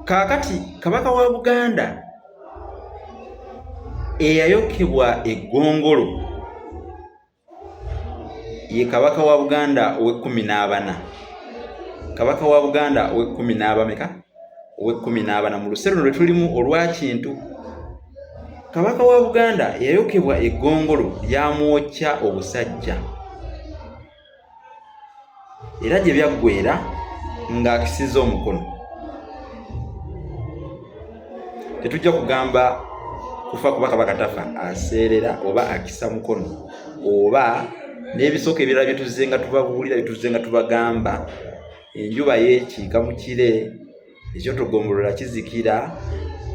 kaakati kabaka wa buganda eyayokebwa eggongolo ye kabaka wa buganda ow'ekkumi n'abana kabaka wa buganda ow'ekkumi n'abameka ow'ekkumi n'abana mu luseero lwe tulimu olwa kintu kabaka wa buganda yayokebwa eggongolo lyamwokya obusajja era gye byaggweera ng'akisiza omukono tetujja kugamba kufa kuba kabaka tafa aseerera oba akisa mukono oba n'ebisooka ebirala byetuzze nga tubabuulira byetuzze nga tubagamba enjuba yeekiika mu kire ekyotogombolola kizikira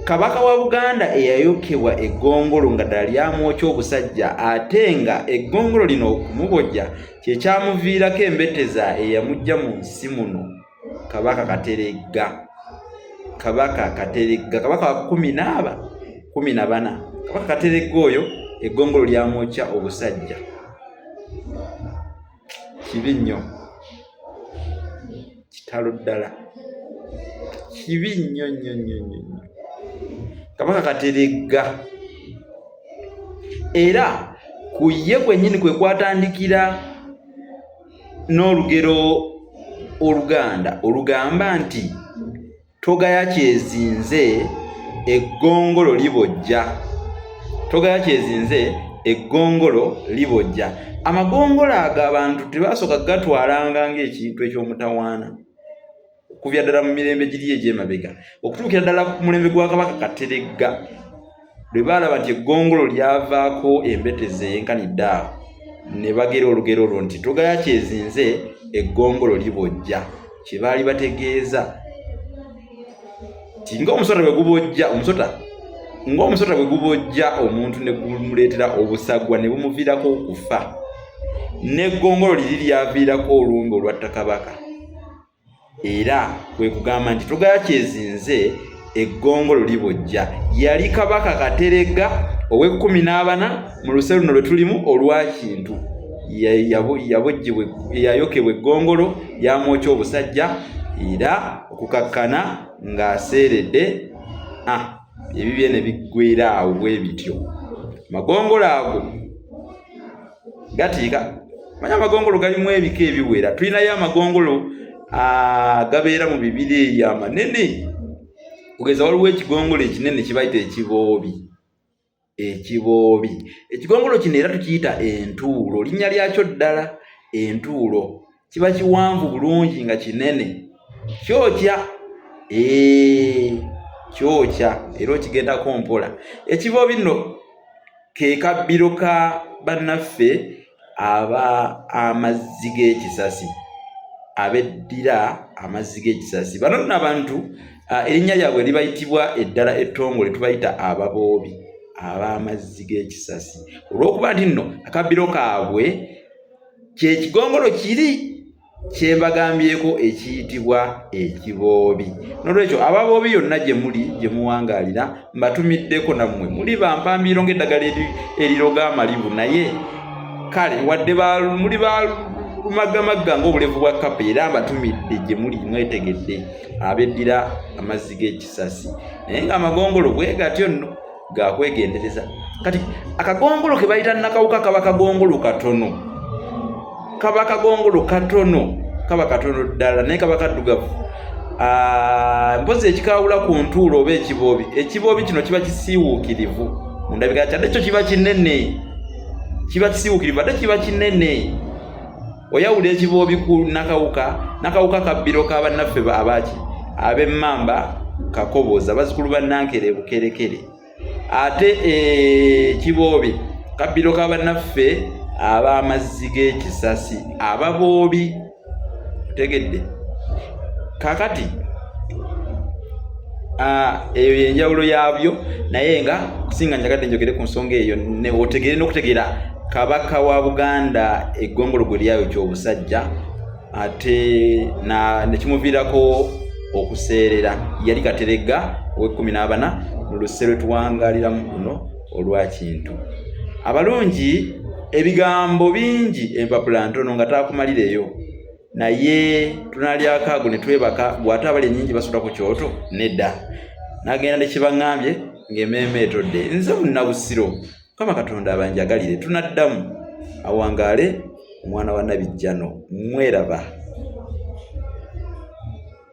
kabaka wa buganda eyayokebwa eggongolo nga ddala lyamwokya obusajja ate nga eggongolo lino okumubojja kyekyamuviirako embeteza eyamujja mu nsi muno kabaka kateregga kabaka kateregga kabaka wa kumi naaba kumi na bana kabaka kateregga oyo eggongolo lyamwokya obusajja kibi nnyo kitalo ddala kibi nnyo nnyo nnyo nnyo kabaka kateregga era ku ye kwennyini kwe kwatandikira n'olugero oluganda olugamba nti togaya kyezinze eggongolo libojja togaya kyezinze eggongolo libojja amagongolo ago abantu tebasooka gatwalanga ngaekintu ekyomutawaana okuvya ddala mu mirembe giri egyemabega okutuukira ddala ku mulembe gwa kabaka kateregga lwe baalaba nti eggongolo lyavaako embetezi eyenkanidde awo ne bagera olugero olwo nti togaya kyezinze eggongolo libojja kye baali bategeeza ti ngaomusota bwe gubojja omusota ng'omusota bwe gubojja omuntu ne gumuleetera obusagwa ne bumuviirako okufa n'eggongolo liri lyaviirako olumbe olwatta kabaka era kwe kugamba nti tugala kyezinze eggongolo libojja yali kabaka kateregga ow'ekkumi n'abana mu luse luno lwe tulimu olwa kintu yabojjibwa yayokebwa eggongolo yamwokya obusajja era okukakkana ng'aseeredde ah, ebibye ne biggwera awo bwe bityo magongolo ago gatiika manya amagongolo galimu ebika ebiwera tulinayo amagongolo gabeera mu bibira eyo amanene kugeza waliwo ekigongolo ekinene kibayita ekiboobi ekiboobi ekigongolo kino era tukiyita entuulo linnya lyakyo ddala entuulo kiba kiwanvu bulungi nga kinene kyokya eh, kyokya era okigendako mpola ekibo bino ke kabbiro ka bannaffe aba amazzi g'ekisasi abeddira amazzi g'ekisasi bano nno abantu ah, erinnya lyabwe libayitibwa eddala ettongole tubayita ababoobi ab'amazzi g'ekisasi olw'okuba nti nno akabbiro kaabwe kyekigongolo kiri kyembagambyeko ekiyitibwa ekiboobi nolwekyo ababoobi yonna gye muli gye muwangaalira mbatumiddeko nammwe muli bampambiiro ng'eddagala eriroga amalibu naye kale wadde muli ba lumagamagga ng'obulevu bwa kapa era mbatumidde gye muli mwetegedde abeddira amazzi g'ekisasi naye ng'amagongolo bwe gatyo nno ga kwegendereza kati akagongolo ke bayita nakawuka kaba kagongolo katono kaba kagongolo katono kaba katono ddala naye kaba kaddugavu ah, mpozi ekikawula ku ntuulo oba ekiboobi ekiboobi kino kiba kisiiwuukirivu mu ndabika kyadde kyo kiba kinene kiba kisiiwuukirivu ate kiba kinene oyawula ekiboobi ku nakawuka nakawuka kabbiro ka bannaffe abaaki abemmamba kakobooza bazikulu ba nankere bukerekere ate ekiboobi eh, kabbiro ka bannaffe ab'amazzi g'ekisasi ababoobi otegedde kakati Ah, eyo yenjawulo yaabyo naye nga kusinga njagadde njogere ku nsonga eyo otegeere n'okutegeera Kabaka wa Buganda eggongologwe lyayo ky'obusajja ate nekimuviirako okuseerera yali kateregga ow'ekkumi n'abana mu luse lwe tuwangaliramu luno olwa kintu abalungi ebigambo bingi empapula ntono nga taakumalireyo naye tunalyako ago ne twebaka gwate abali enyingi basula ku kyoto nedda nagenda nekibaŋambye ng'emeeme etodde nze munnabusiro mukama katonda abanjagalire tunaddamu awangaale omwana wa nabijjano mweraba